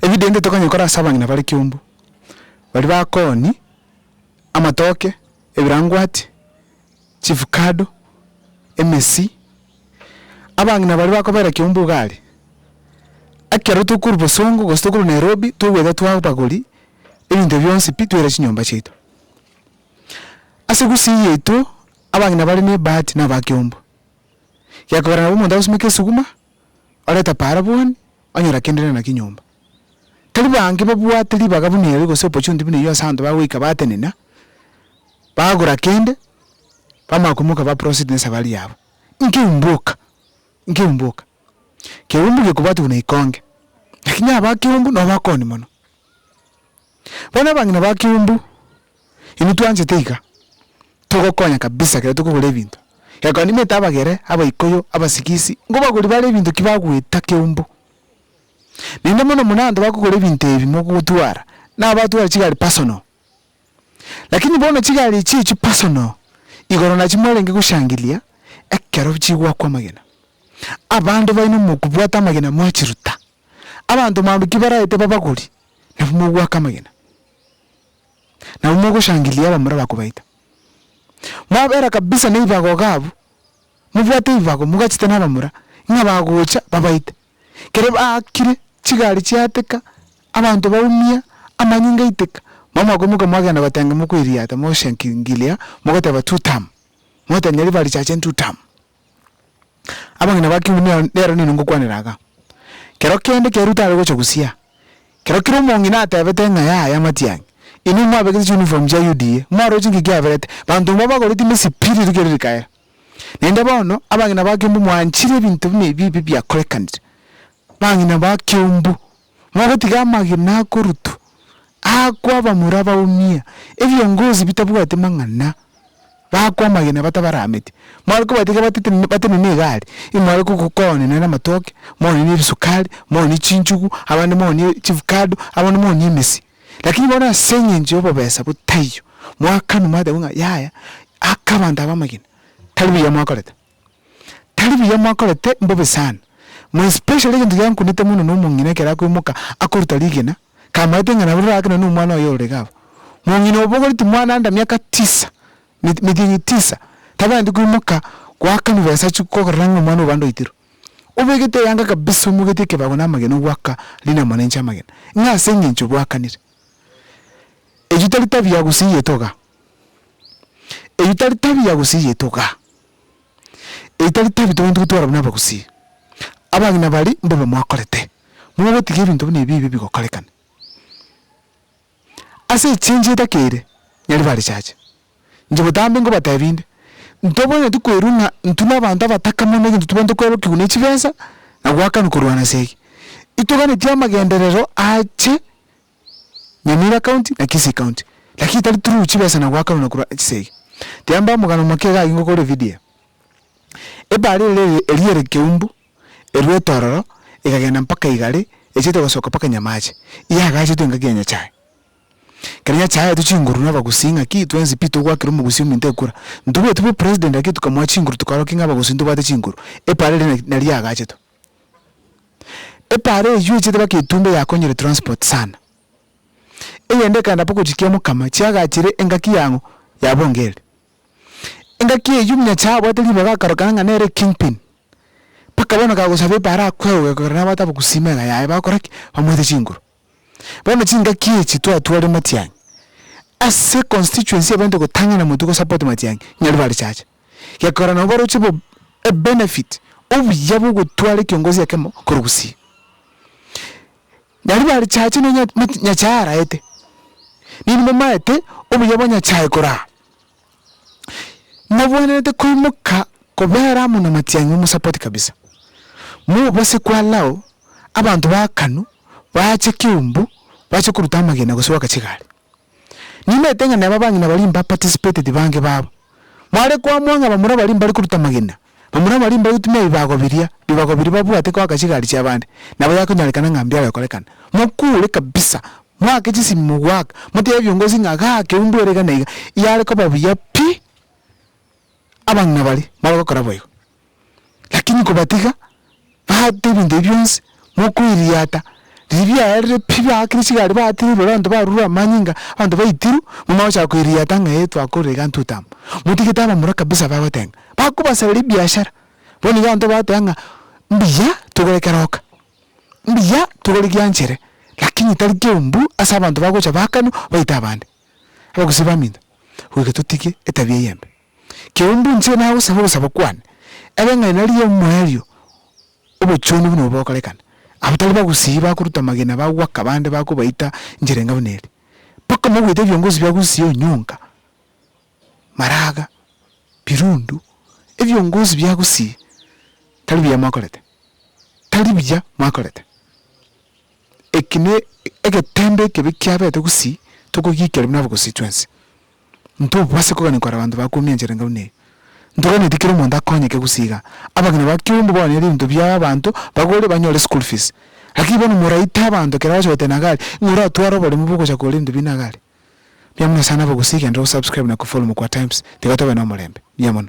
Evident tokonyekora ase abang'ina bare kiombu, baria bakoni amatoke. ebirangwati, chief kado, emesi, abang'ina baria bakobera kiombe ugari, ekero tokorwa bosongo gose tokorwa nairobi togweta twabagori ebinto bionsi pi twere chinyomba chiaito. Ase gusii yaito abang'ina bare ne ebahati naba kiombo, gekogera nabo omonto agosimeka esuguma oreta para boni onyora kende rende naki nyomba. Tari bange babwate ribaga buna erio gose opportunity buna eyio ase abanto bagoika batenena, bagora kende, bamanya koimoka ba proceed ne safari yabo. Inki umbuka? Inki umbuka? Keumbu gekobwati buna ikonge, lakini abakegumbu nabo bakoni mono. Bono abang'ina ba Kiumbu, inwe twanchete iga, togokonya kabisa ekero tokogora ebinto. Gekogera nimanyete abagere, abaikuyu, abasigisi, nkobagoria bare ebinto ki bagoeta Kiumbu. Naende mono mono abanto bakogora ebinto ebi mogotwara, nabatware chigari personal. Lakini bono chigari echi echi personal, igoro nachio mwarenge goshangilia ekero chigoakwa amagena. Abanto baino mokobwata amagena mwachiruta, abanto mambia ki baraete babagori, nabwo mogoaka amagena, nabwo mogoshangilia abamura bakobaita. Mwabera kabisa neibago iga abwo, mobwate eibago mogachete na abamura, ng'a bagocha babaite. Kere baakire, chigari chiateka, abanto baumia, amanyinga aiteka, nabo mwakoimoka mwagenda gotenga mokoiriata, mogoshangilia, mogoteba tutam, mogotebia nyaribari chache ntutam. Abang'ina ba kiubi nero nero nini ngokwanera iga. Kero kende kero tare gocha gosiaa, kero kero omong'ina atebete ng'a yaya matiang'i, inwe mwabegete chiuniform chia UDA, mwaroche ng'aki kiaberete, banto mbao bagoreti misipi riria kere rikaera. Naende bono, abang'ina ba kiubi mwanchire ebinto buna ebi ebi biakorekanire, bang'ina ba kiubu mogotiga amagena akorutwa aakwo abamura baumia, ebiongozi bitabwati mang'ana, baakwo amagena batabarametie, mware kobwati iga batete batenene egari, imware gogo koonye nere amatoke, moonye nere esukari, moonye chinchugu, abande moonye chifukado, abande moonye emesi. Lakini bono ase eng'encho ya obobesa botaiyo, mwakanwa mwateba ng'a yaya, aka abanto aba amagena, tari buya mwakorete. Tari buya mwakorete, mbobe sana. More especially egento giankunete mono na omong'ina ekero akoimoka akoruta rigena, kamaete ng'a naberire aake nonye na omwana oye ororege abwo. Mong'ina obogori timwana anda miaka tisa, midieng'i tisa, tabwenereti koimoka goaka mobesa chi korora ng'a omwana obande oitirwe. Obegete eyanga kabisa omogete ekebago na amagena ogoaka rinama na inche amagena, ng'a ase eng'encho bwakanire. Eyio tari tabia gose eye togaa. Eyio tari tabi ya gusii yaito igaa, eyio tari tabi tobwenerete gotwara buna abagusii. Abagina baria mbobe mwakorete, mogotiga ebinto buna ebi ebibe bigokorekane. Ase echengi etake ere, nyari barichache, inche botambe ngobatebi nde, ntobwenereti koirwa ng'a intwe na abanto abataka mono egento tobwenerete kwerokigwa ne chibesa, na goakanwa korwa ase ege. Itoganeti amagenderero ache. Nyamira County na Kisii County, lakini tari through chibesa na goakanwa na korwa chisa ege. Tiamba omogano omoke iga agwo ngokore video eye. Ebare ere eria ere Keumbu erwe etororo egagenda mpaka igare echete gosoka mpaka Nyamache. Iga agachetwe engaki ya Nyachae. Kere Nyachae aetwe chinguru na Abagusii ng'aki twensi pi togwakera Omogusii ominto ekura. Ntobwati b'opresident lakini tokamoa chinguru tokarokia ng'a Abagusii ntobwate chinguru. Ebare ere naria agachetwe. Epaara eye yuechete baka etumbe yakonyire transport sana. Eyende ekaenda baka gochikia mokama chiagachire engaki yang'o ya bongeri. Engaki eyio muna chiabwate ribaga akarokana ng'a nere king pin. Baka bono kagosaba epaara akwegoke korende nabwate abagusii mega yaye bakora ki? Bamoete chinguru. Bono chingaki echi twatware matiang'i ase constituency ebainte gotang'ana motwe go support matiang'i nyari bare chacha gekogera nabo baroche bo ebenefit obuya bwogotwara ekiongozi ekemo korwa gusii nyari bare chacha nonye nyachae araete ninwe momaete obuya bwa nyachae koraa. Mobwenerete koimoka kobera amo na matiang'i omosapoti kabisa. Mobase kwalao abanto baakanu baache keumbu bache koruta amagena gose goaka chigari. Nimanyete ng'a neba abang'ina baria mbaparticipated bange babo. Mware koamua ng'a bamura baria mbare koruta amagena Bamura abo baria mbagotumia ebibago biria, bibago biria babwate goaka chigari chi'abande, nabo yakonyorekana ng'a mbiabe gokorekana. Mokure kabisa, moake chisimi mogoaka, motebe biongozi ng'a ga keumbu ere iga na iga, yare koba buya pi, abang'ina baria bare gokora boigo. Lakini kobatiga. baate ebinto ebi bionsi, mokoiriata, riria biarire pi baakire chigari baatire iboro abanto barure amanyinga, abanto baitirwe, buna bagochaka koiriata ng'a ee twakorire ntute amo. Motigete abamura kabisa bagotenga, bakobasarera ebiashara, bono iga abanto bagoteeba ng'a mbuya togore keroka, mbuya togore gianchere, lakini tari keumbu ase abanto bagocha baakanwa baite abande, abagusii baminto, goika totige etabia eye embe. Keumbu inche nagosaba ogosaba kwane, ebe ng'a nari ri'omoerio obochenu buna obo bokorekana, abwo tari bagusii bakoruta amagena bagwaka abande bakobaita inchera enga buna eri, mpaka mogoite ebiongozi bia gusii onyonka, maraga, birundu, ebiongozi bia gusii tari buya mwakorete, tari buya mwakorete. Eki ne egetembe ekebe kiabete gusii, tokogiikera buna abagusii twensi. Ntobwasi kogania kore abanto bakuomia enchera enga buna eyo. Ntoganeti kera omonto akonyeke gose iga. Abageni ba kiombe baonye ebinto bia abanto bagore banyore school fees. Lakini bono moraite abanto kera ogocha gotena iga aria, ng'a oratware oboremu bwa ogocha kogora ebinto bina iga aria. Mbuya mono sana abagusii genda o subscribe na kofollow Mokwa Times tiga tobe nomorembe. Mbuya mono.